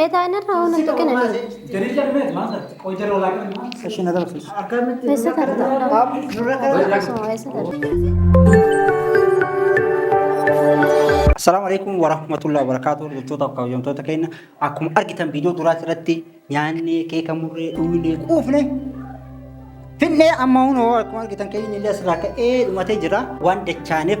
Meetaa inni irraa waan hin tuqinanii. Eessa tarta? Akkasuma eessa tarta? Assalamu alaikum warahmatullahi wabarakatuh. Hordoftoota kabajamtoota keenya akkuma argitan viidiyoo duraas irratti nyaannee keeka murree dhugnee quufne finnee amma hunoo akkuma argitan keenya illee asirraa ka'ee dhumatee jira waan dachaaneef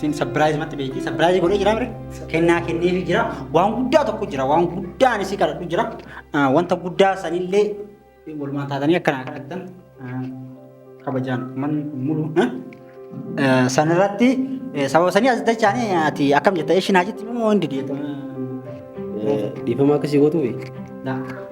Siin sabbiraayiz matti beekti. Sabbiraayiz godhee jira mire. Kennaa kenneefi jira. Waan guddaa tokko jira. Waan guddaa ani si kadhadhu jira. Ah, Wanta guddaa sanillee walumaan taatanii akka naa kadhattan ah, kabajaan man mulu. eh? Eh, Sanirratti eh, sababa sanii as dachaanii ati akkam jetta ishin haa jetti moo hundi deetu. Dhiifama akkasii gootuufi. Daa.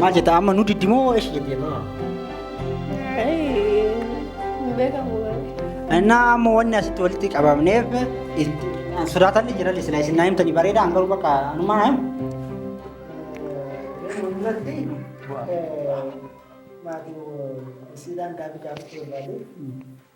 Maal jetta amma nu diddimoo eesh jette amma. Innaa amma wanni asitti walitti qabamneef sodaatan ni jira silaa isin naa himtanii bareedaa an garuu bakka anumaa naa himu. Maatiin isiidhaan gaaffii gaafachuu barbaadu.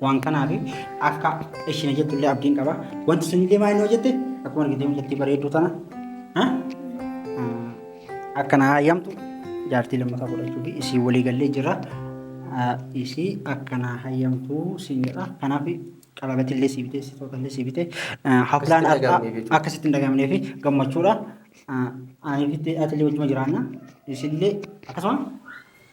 Waan kanaaf akka isheen hojjettu illee abdiin qaba. Wanti sun illee maal inni hojjette akkuma argitee mucattii bareedduu tana ha? Ah, akka na hayyamtu jaartii lammataa godhachuu fi isii walii gallee jira. Ah, Isii akka na hayyamtu siin jedha. Kanaaf qalabati illee sii bitee sitoota illee sii bitee ah, haflaan Akkasitti har'aa dhagahamnee jechuudha. akkasitti hin dhagahamnee fi gammachuudha. Ah, Ani fi ati illee wajjuma jiraanna. Isillee akkasuma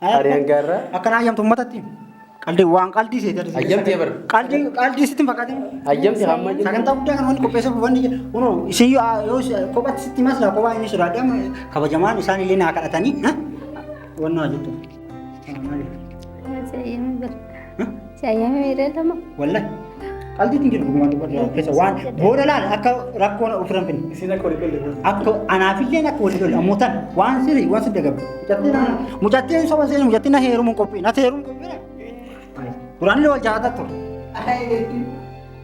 Ani hanga irraa Akkanaa ayyamtu ummatatti. Qaldi waan qaldii seete argisiisa. Ayyamtee bar. Qaldi qaldii sitti hin fakkatin. Ayyamti hamma jiru. Sagantaa guddaa kan wanti qopheessuuf wanni jedhu kunoo isin yoo yoo si- kophatti sitti maslaa kophaa inni sodaadhe amma kabajamaan isaan illee naa kadhatanii ha? wanni waa jettu. Maali? Maal jedhee bar. Si ayyaamee miidhee lama. Wallah. Qaldiitti hin jiru dhugumaan dubbadha. Keessa waan booda laal akka rakkoon ofirra hin finne. Isin akka walii galle. Akka anaafillee akka walii galle ammoo tan waan sirrii waan sirrii gabu. Mucattiin na mucattiin soba seenuu mucattiin na heerumuun qophii na heerumuun qophii. Duraanillee wal jaalataa ture. Ayi.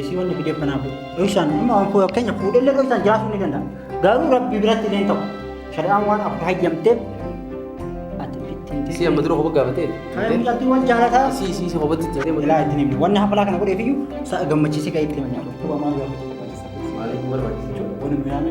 Isii wanni fidee kanaaf dhoysaan amma waan koo keenya fuudhellee dhoysaan jiraachuu ni danda'a. Garuu rabbi biratti illee hin ta'u. Shari'aan waan akka hayyamteef ati ofitti hin Isii amma dura kopha gaafatee. Kan mucattiin wal jaalataa. Isii isii isa kophatti itti jedhee Ilaa ittiin himne. Wanni hafalaa kana godheef iyyuu sa'a gammachiisee ka'ee itti himne. Maaliif barbaachisa jechuudha? Wanni nu yaame.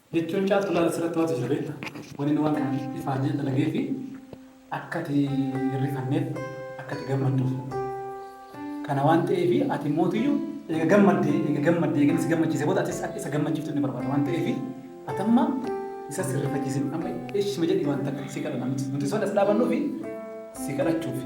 Jechuun caaltu laala sirratti maaltu jira beekta? Wan inni waan kana ifaan jee dalagee fi akka ati hin rifanneef akka ati gammadduuf. Kana waan ta'eefi ati mootiyyu eega gammadde eega gammadde eega inni si gammachiise booda atis akka isa gammachiiftu inni barbaada waan ta'eefi ati amma isa sirrifachiisin amma ishima jedhi waan takka si kadha namti nuti soon as dhaabannuufi si kadhachuufi.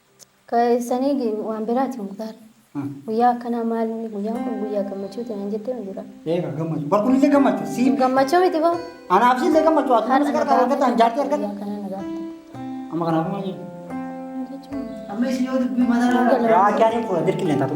Sani waan biraati muktaar. Guyyaa akkanaa maal inni guyyaan kun guyyaa gammachuuti naan jettee hin dura. Eega gammachuu. Bar kun illee gammachuu. Siif. Gammachuu miti baa. Anaaf si illee gammachuu. Ati nama si gargaaru argata hin jaartii argata. Guyyaa akkanaa na gaafte. Amma kanaaf maal jedhu? Amma isin yoo dubbii mataa irraa. Yaa akka ani fuula dirqillee hin taatu.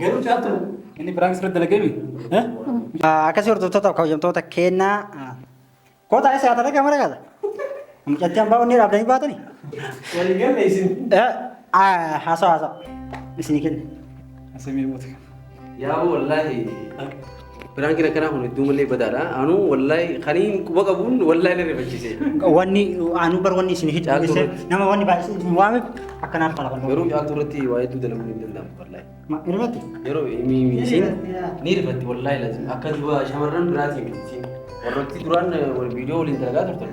Garuu caaltu inni biraan sirra dalagame. Akkasii hordoftootaaf kabajamtoota kennaa kootaa isa yaata dhagaa mara gaata. Mucatti hambaa onnee dhaabdanii baatanii. Walii galee isin. Haasawaa haasawaa isinii kenna. Asamii moota. Yaa wallaahi. Biraankiin akkanaa kun hedduu malee badaadha. Anuu wallahi kaniin quba qabuun wallahi na rifachiise. Wanni aanuu bar wanni isin hidhu Caaltuu dhiise nama wanni baay'ee isin waame akkanaaf kana kan Garuu caaltuu irratti waa hedduu dalaguun hin danda'amu wallahi. Irratti Yeroo mi- mi- isiin ni rifatti wallahi lazim. Akka duba shamarran biraatiin miti isiin. Warrotti duraan eh, wal viidiyoo waliin dalagaa turtan.